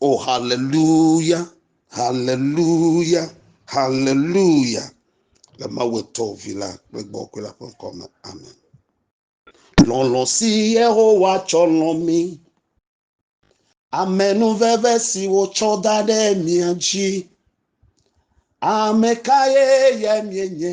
O haleluya, haleluya, haleluya. Le Mawu etɔ vi la kple gbɔ kple la ƒe ŋkɔ me. Amen. Lɔlɔ si Yehowa tsɔ lɔ mi. Amenuveve si wotsɔ da ɖe mia dzi. Ame kae ye mienye?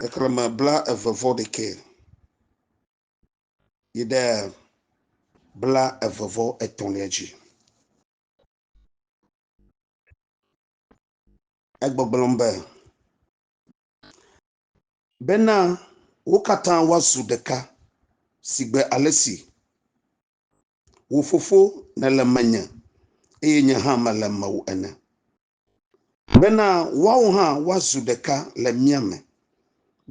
xexlẽme blaeve-vɔ-ɖekɛ yi ɖe blaeve-vɔ-etɔ̃lia dzi. Egbɔgblɔm be, Bena wo katã woazu ɖeka sigbe ale si wò Fofo nèle menye eye nye hã mele mewò ene. Bena woawo hã woazu ɖeka le mía me,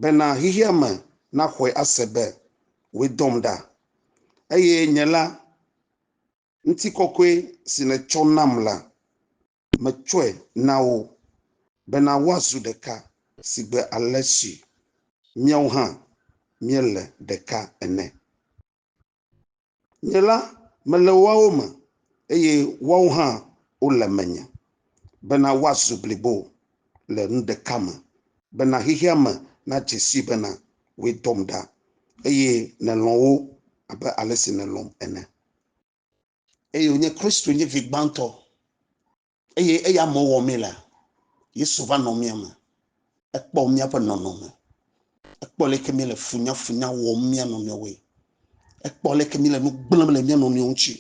bena xexea me naxɔe ase be wòe dɔm ɖa, eye nye la, ŋutikɔkɔe si nètsɔ nam la, metsɔe na wo, bena woazu ɖeka sigbe ale si míawo hã míele ɖeka ene. Nye la, mele woawo me, eye woawo hã wole menye, bena woazu blibo le nu ɖeka me, bena xexea me nadze sii bena wòe dɔm ɖa, eye nèlɔ̃ wo abe ale si nèlɔ̃m ene. Eye wònye Kristo nye vi gbãtɔ Eye eya me wɔ mí la, Yesu va nɔ mía me. Ekpɔ míaƒe nɔnɔme. Ekpɔ leke mí le funyafunya wɔm mía nɔnɔewoe. Ekpɔ leke mí le nu gblẽm le mía nɔnɔewo ŋuti.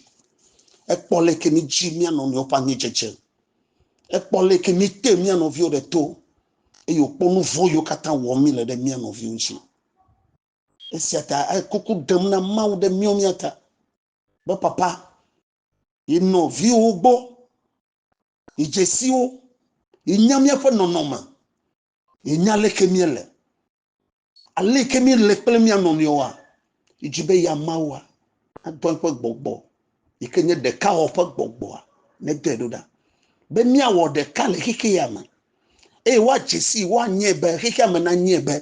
Ekpɔ leke mí dzi mía nɔnɔewo ƒe anyidzedze. Ekpɔ leke mí te mía nɔviwo ɖe to. Eye wòkpɔ nu vɔ̃ yiwo katã wɔm mí le ɖe mía nɔviwo ŋuti. Esia ta ekuku ɖem na Mawu ɖe míawo mía ta be, Papa, yi nɔviwo gbɔ, yi dzesiwo, yi nya míaƒe nɔnɔme, yi nya leke míele, aleke míele kple mía nɔnɔewoa, yi dzi be ya Mawua nadɔ eƒe gbɔgbɔ yi ke nye ɖeka wɔ ƒe gbɔgbɔa nedɔe ɖo ɖa be míawɔ ɖeka le xexi ya me eye woadze si woanyɛ be xexi ya me nanyɛ be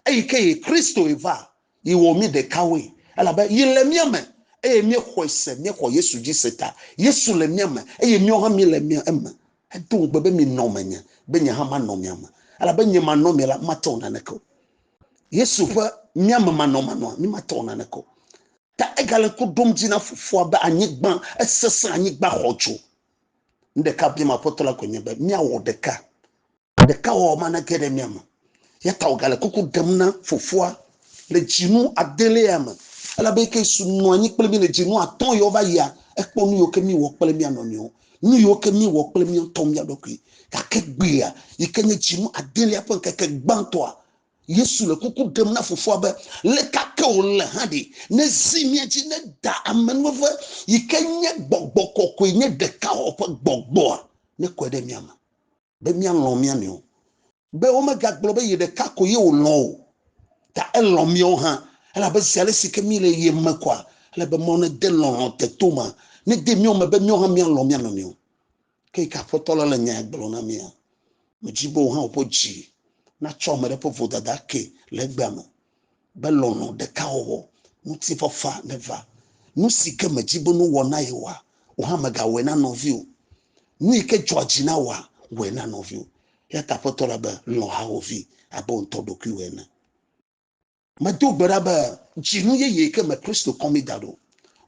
eyi ke yi Kristo yi va Yi wɔ mí ɖekawoe, elabe yi le mía me, eye míexɔe se, míexɔ Yesu dzi se ta. Yesu le mía me, eye míawo hã míele mía eme. Edo ŋugbe be, Minɔ menye, be nye hã manɔ mia me. Elabe nye manɔ mia la, mate wɔ naneke o. Yesu ƒe mía me manɔmanɔa, mí mate wɔ naneke o. Ta egale ŋku ɖom dzi na Fofoa be anyigba, esesẽ, anyigba xɔ dzo. Nu ɖeka biam Aƒetɔ la koe nye be míawɔ ɖeka Ɖekawɔwɔ manege ɖe mía me o, eya ta wògale kuku ɖem na Fofoa le dzinu adelea me, elabe eke su nɔ anyi kple mí le dzinu atɔ̃ yiwo va yia, ekpɔ nu yiwo ke míewɔ kple mía nɔnɔewo, nu yiwo ke míewɔ kple mía ŋutɔ mía ɖokui. Gake egbea, yi ke nye dzinu adelea ƒe ŋkeke gbãtɔa, Yesu le kuku ɖem na Fofoa be, Le ka ke wòle hã ɖe, nezi mía dzi ne Da amenuveve, yi ke nye gbɔgbɔ kɔkɔe, nye Ɖekawɔwɔ ƒe gbɔgbɔa, nekɔe ɖe mía me. be míalɔ̃ mía nɔewo, be womegagblɔ be yeɖeka ko ye wòlɔ̃ o, ta elɔ̃ míawo hã, elabe zi ale si ke míele ye me koa, ele be Mawu nede lɔlɔ̃ te to ma nede mía me be míawo hã míalɔ̃ mía nɔnɔewo. Ke yi ke Aƒetɔ la le nya ya gblɔm na mía, medi be wò hã wò ƒe dzi natsɔ ame ɖe ƒe vodada akee le egbea me. be lɔlɔ̃ ɖeka wɔwɔ, ŋutifafa neva. Nu si ke mèdi be nuwɔ na yewoa, wò hã mègawɔe na nɔviwò. Nu yi ke dzɔa dzi na wòa, wɔe na nɔviwò. Eya ta Aƒetɔ la be, Lɔ̃ hawòvi abe wò ŋutɔ ɖokuiwò ene. Medo gbe ɖa be dzinu yeye ke me Kristo kɔ mí da ɖo,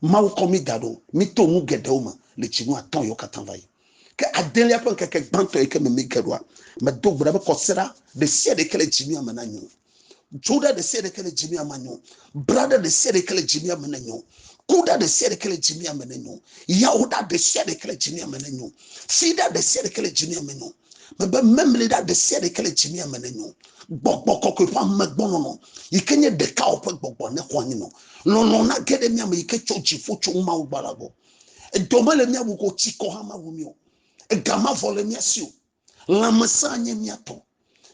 Mawu kɔ mí da ɖo, míto nu geɖewo me le dzinu atɔ̃liawo katã va yi. Ke adelia ƒe ŋkeke gbãtɔ yi ke me míge ɖoa, medo gbe ɖa be kɔsiɖa ɖe sia ɖe yi ke le dzinua me nanyo. Dzoɖa ɖe sia ɖeke le dzimia me nyo. Braɖa ɖe sia ɖeke le dzimia me nyo. Kuɖa ɖe sia ɖeke le dzimia me nyo. Yawoɖa ɖe sia ɖeke le dzimia me nyo. Fiɖa ɖe sia ɖeke le dzimia me nyo. Mebe memliɖa ɖe sia ɖeke le dzimia me nyo. Gbɔgbɔ kɔkɔe ƒe amegbɔnɔnɔ yi ke nye ɖekawɔ ƒe gbɔgbɔ ne xɔ anyi nɔ. Lɔlɔ̃ na ge ɖe mia me yi ke tso dziƒo tso Mawu gbɔ la gbɔ. Edɔ mele mia wu ko tsikɔ hã mawu mi o. Ega mavɔ le mia si o. Lãmesẽ nye mía tɔ.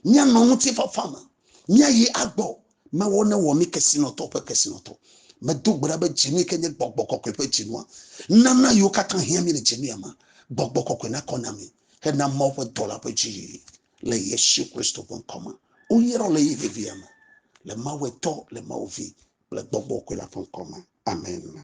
Míanɔ ŋutifafa me. Míayi agbɔ. Mewɔ ne wɔ mí kesinɔtɔ ƒe kesinɔtɔ. Medo gbe ɖa be dzinue ke nye gbɔgbɔ kɔkɔe ƒe dzinua. Nana yiwo katã hiã mí le dzinuya me. Gbɔgbɔ kɔkɔe nakɔ na mí hena Mawu ƒe dɔla ƒe dziyiyi. Le Yesu Kristo ƒe ŋkɔ me. Woyrɔ le ɣeyiɣi vevia me. Le Mawu Etɔ, le Mawu Vi kple Gbɔgbɔ kɔkɔe la ƒe ŋkɔ me. Amen.